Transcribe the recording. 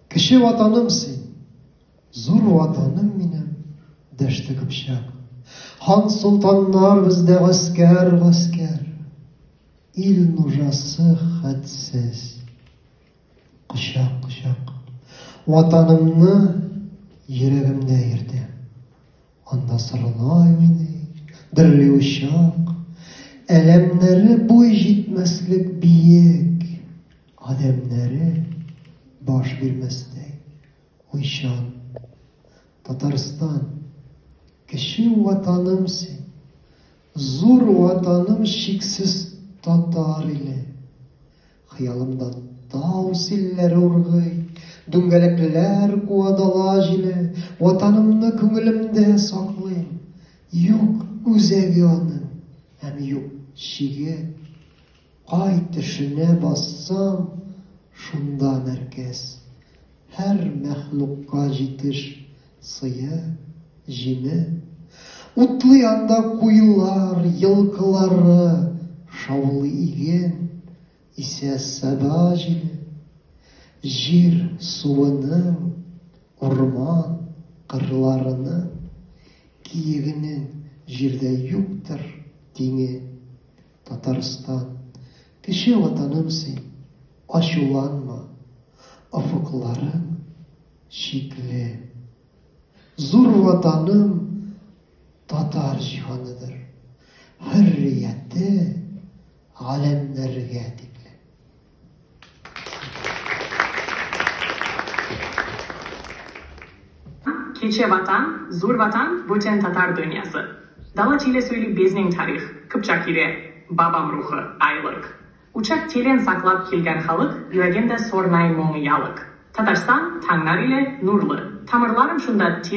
Кече Ватаным син, зур Ватаным минем, дәште Кыпчак. Хан-солтаннар бездә гаскәр, гаскәр. Ил нужасы хәтсез. Кочак, кочак. Ватанымны йөрәгемдә йөртә. Анда сырылай мине, дерли учак. Әләмнәре буй җитмәслек биек. Адәмнәре баш бирмәстәй, уйчан. Татарстан, кече ватаным син, зур ватаным чиксез татар иле. Хыялымда тау силләре ургый, дүңгәләкләр куа дала җиле, ватанымны күңелемдә саклыйм. Юк үзәге аның, һәм юк чиге, Ай тешенә бассаң, шунда мәркәз. Һәр мәхлукка җитеш сые, җиме. Утлый анда куюлар, елкылары, шаулый иген, исә саба җиле. Җир суының, урман кырларының, киегенең җирдә юктыр тиңе. Татарстан, кече ватаным син, ачуланма, офыкларың чикле. Зур ватаным татар җиһаныдыр, хөррияте галәмнәргә тикле. Кече Ватан, Зур Ватан, бүтән татар дөньясы. Дала теле сөйли безнең тарих, Кыпчак иле, бабам рухы, айлык. Учак телен саклап килгән халык, йөрәгендә сорнай моң ялык. Татарстан, таңнар иле, нурлы. Тамырларым шунда тирән.